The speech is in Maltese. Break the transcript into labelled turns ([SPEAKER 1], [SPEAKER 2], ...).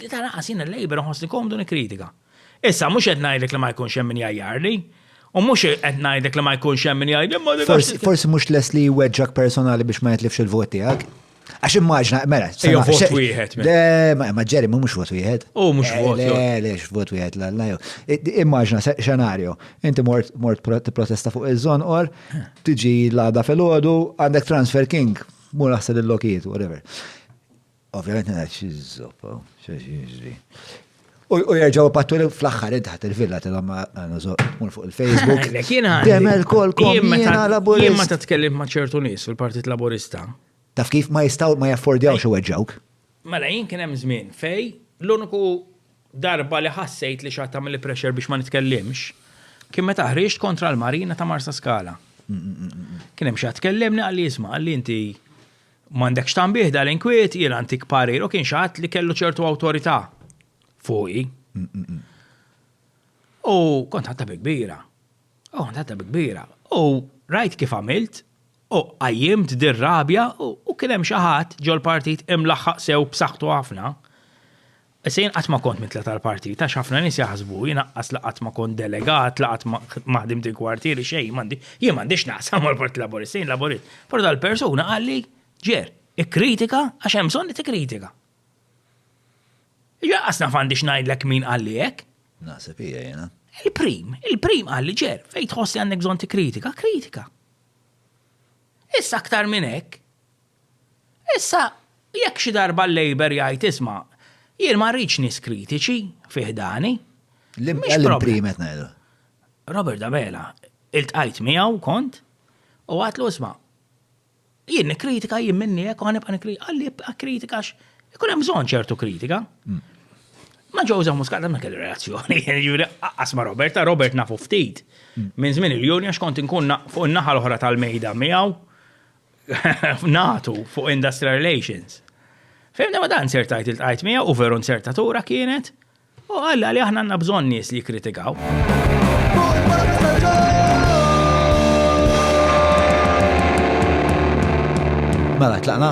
[SPEAKER 1] Li ta' naqas jien il-Labour nħossni komdu nikkritika. Issa mhux qed ngħidlek li ma jkunx hemm min jgħajjarli, U mhux qed ngħidlek li ma jkunx hemm min jgħid imma Forsi mhux les li
[SPEAKER 2] jweġġak personali biex ma jitlifx il-vot tiegħek. Għax immaġna, mela, sejja
[SPEAKER 1] vot wieħed. Mela. Ma ġeri,
[SPEAKER 2] ma mhux vot wieħed. U mhux eh, vot. Le,
[SPEAKER 1] le, vot wieħed,
[SPEAKER 2] la, la, Immaġna xenarju, inti mort mort protesta fuq iż-żon or tiġi l-għada fil-ħodu għandek transfer king, mur naħseb il-lokiet, whatever. Ovvjament ngħid xi żoppa, xi jiġri. U jerġaw pattu li fl-axħar id ħat il-villa tilhom għandu zoqmun fuq il-Facebook. Demel kol kol jiena laburista. Jien meta tkellim ma' ċertu
[SPEAKER 1] nies fil-Partit Laburista. Taf kif ma
[SPEAKER 2] jistaw ma jaffordjaw xi weġġawk. Mela jien kien hemm
[SPEAKER 1] żmien fej l-uniku darba li ħassejt li xatta mill pressure biex ma nitkellimx kien meta ħriġt kontra l-marina ta' Marsa Skala. Kien hemm xi tkellimni għalli jisma' għalli inti M'għandekx tanbih dal-inkwiet, jiena ntik parir u kien xi ħadd li kellu ċertu awtorità fuqi. U kont ħadta bi kbira. U kont ħadta bi kbira. U rajt kif għamilt u qajjimt dir-rabja u kien hemm xi ħadd ġol-partit imlaħħaq sew b'saħħtu ħafna Issa jien qatt ma kont mitla' tal-partit għax ħafna nies jaħsbu, jien aqqas la qatt ma kont delegat, la qatt ma ħdimt il-kwartieri, xejn, m'għandi, jien m'għandi x'naqsam mal-Partit Laburista, jien Laburist. Però dal-persuna qalli, Ger, ikkritika għax hemm bżonn li tikkritika. Jiġifieri aqqas naf għandi x'ngħidlek min qalli hekk. Naħseb hija jiena.
[SPEAKER 2] Il-prim, il-prim
[SPEAKER 1] qalli, Ger, fejn tħoss li għandek bżonn tikkritika, kritika. Issa aktar minn hekk, Issa, jekk xi darba l-Labour jgħid isma', jien ma rridx nies kritiċi fi ħdani, mhix
[SPEAKER 2] problema. Robert
[SPEAKER 1] Abela, iltqajt miegħu, kont, u għidtlu isma', jien nikkritika jien minni hekk u ħanibqa' nikkritika, qalli ibqa' kritika għax ikun hemm bżonn ċertu kritika. Mm. Ma ġewża muskata ma kelli relazzjoni, jiġifieri qaqqas ma' Robert, Robert nafu ftit. Mm. Minn żmien il-Juni għax kont inkun fuq in-naħa l-oħra tal-mejda miegħu natu fuq industrial relations. Fimna ma dan ser tajt il-tajt mija u veru nsertatura kienet u għalla li aħna għanna bżon nies li kritikaw.
[SPEAKER 2] Mela, tlaqna?